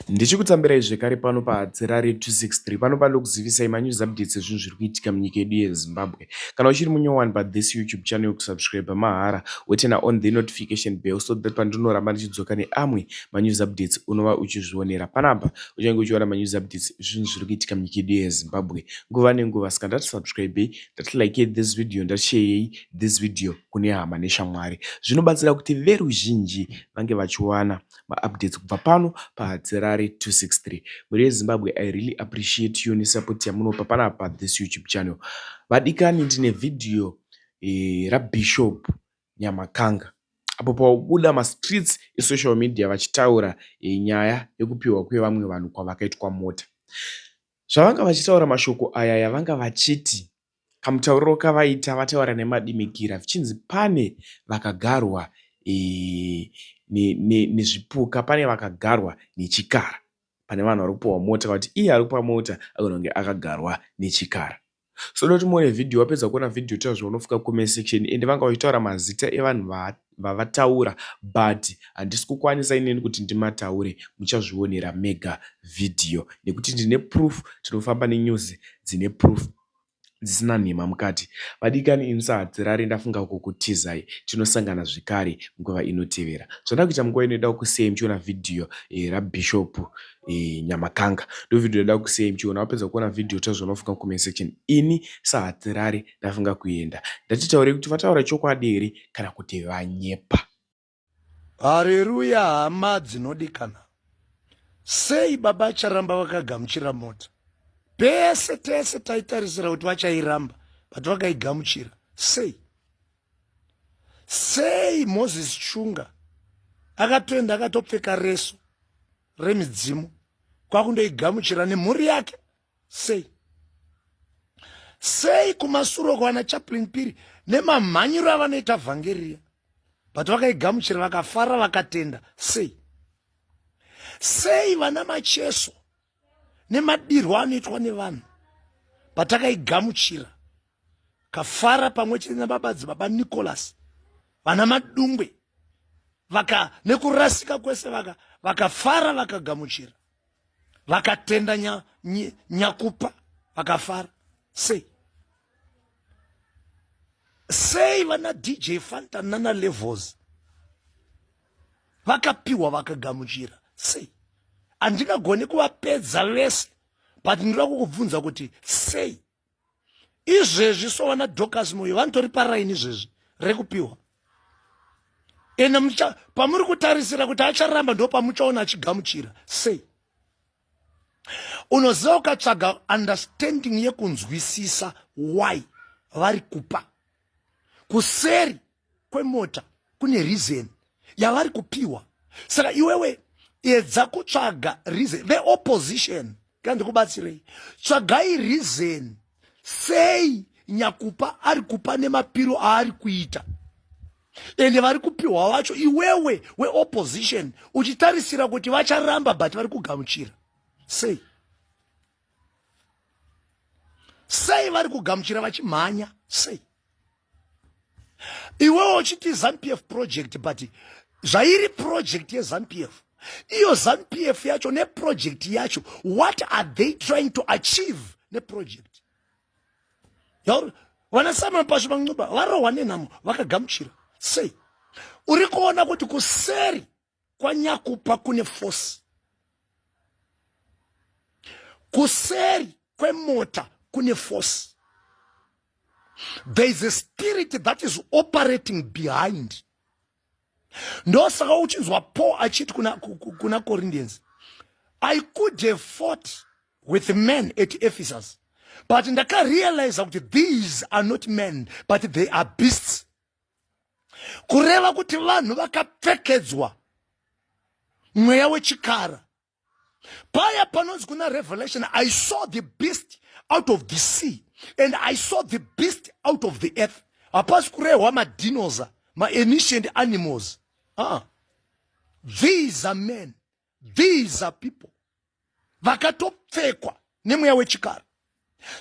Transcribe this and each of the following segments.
Ndichikutambirai zvekare pano paHadzi raRadio 263 pano pandokuzivisai manews updates ezvinhu zviri kuitika munyika yedu yeZimbabwe. Kana uchiri munyowani pathis YouTube channel yokusubscriber mahara wotena on the notification bell so that pandinoramba ndichidzoka neamwe manews updates unova uchizvionera panapa. Uchange uchiona manews updates ezvinhu zviri kuitika munyika yedu yeZimbabwe nguva nenguva saka ndati subscribei ndati likei this video ndati sheyei this video kune hama neshamwari. Zvinobatsira kuti veruzhinji vange vachiwana maupdates kubva pano padzerare 263 mhuri yezimbabwe i really appreciate you nesupport yamunopa panapa pathis youtube channel vadikani ndine vhidhiyo e, rabishop nyamakanga apo paubuda mastreets esocial media vachitaura e, nyaya yekupiwa kwevamwe vanhu kwavakaitwa mota Zvavanga vachitaura mashoko aya yavanga vachiti kamutauriro kavaita vataura nemadimikira vichinzi pane vakagarwa nezvipuka pane vakagarwa nechikara pane vanhu vari kupiwa mota vati iye ari kupa mota agona kunge akagarwa nechikara. So noti muone video wapedza kuona video tira zvaunofunga comment section ende vanga vachitaura mazita evanhu vavataura but handisi kukwanisa ineni kuti ndimataure muchazvionera mega video nekuti ndine proof tinofamba nenews dzine proof dzisina nhema mukati vadikani ini sahadzirari ndafunga kukutizai tinosangana zvekare nguva inotevera zvandakuita munguva inoida kusei muchiona video eh, rabishop e, nyamakanga ndovideo yada kusei muchiona wapedza kuona vhidhiyo tazviona unofunga comment section ini sahatirari ndafunga kuenda ndatitaure kuti vataura chokwadi here kana kuti vanyepa hareruya hama dzinodikana sei baba charamba vakagamuchira mota pese tese taitarisira kuti vachairamba but vakaigamuchira sei sei moses chunga akatoenda akatopfeka reso remidzimu kwakundoigamuchira nemhuri yake sei sei kumasuro kwana chaplin piri nemamhanyiro avanoita vhangeriya but vakaigamuchira vakafara vakatenda sei sei vana macheso nemadirwo anoitwa nevanhu patakaigamuchira kafara pamwe chete nababadzi baba nicholas vana madungwe vaka nekurasika kwese vaka vakafara vakagamuchira vakatenda nya, ny, nyakupa vakafara sei sei vana dj fanta nana levels vakapiwa vakagamuchira sei handingagoni kuvapedza vese but ndinoda kukubvunza kuti sei izvezvi so vana docas moyo vanotori paraini izvezvi rekupiwa ende pamuri kutarisira kuti acharamba ndo pamuchaona achigamuchira sei unoziva ukatsvaga understanding yekunzwisisa why vari kupa kuseri kwemota kune reason yavari kupiwa saka iwewe edza kutsvaga reason the opposition kana ndikubatsirei tsvagai reason sei nyakupa ari kupa nemapiro aari kuita ende vari kupiwa wacho iwewe weopposition uchitarisira kuti vacharamba but vari kugamuchira sei sei vari kugamuchira vachimhanya sei iwewo uchiti zanupf project but zvairi project yezanupf iyo zanupf yacho neproject yacho what are they trying to achieve neproject vanasimon pasho vancuba varohwa nenhamo vakagamuchira sei uri kuona kuti kuseri kwanyakupa kune force kuseri kwemota kune force there is a spirit that is operating behind ndosaka uchinzwa paul achiti kuna, kuna corinthians i could have fought with men at ephesus but ndakarealiza kuti these are not men but they are beasts kureva kuti vanhu vakapfekedzwa mweya wechikara paya panonzi kuna revelation i saw the beast out of the sea and i saw the beast out of the earth hapasi kurehwa madinosa maancient animals ah. these are men these are people vakatopfekwa nemweya wechikara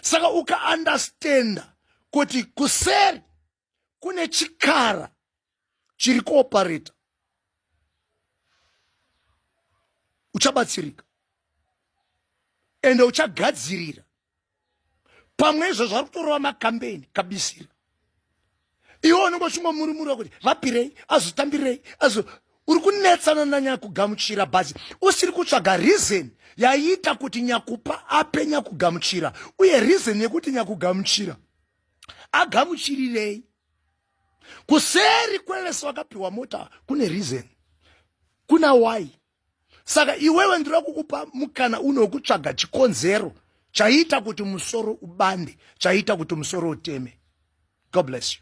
saka ukaandastenda kuti kuseri kune chikara chiri kuopareta uchabatsirika ende uchagadzirira pamwe izvo zvari kutorova makambeni kabisira iwe unenge uchingomurumurwa kuti vapirei azotambirei azo uri kunetsana nanyakugamuchira bhazi usiri kutsvaga reason yaiita kuti nyakupa ape nyakugamuchira uye reason yekuti nyakugamuchira agamuchirirei kuseri kwevese vakapiwa mota kune reason kuna why saka iwewe ndiri kukupa mukana uno wekutsvaga chikonzero chaiita kuti musoro ubande chaiita kuti musoro uteme god bless you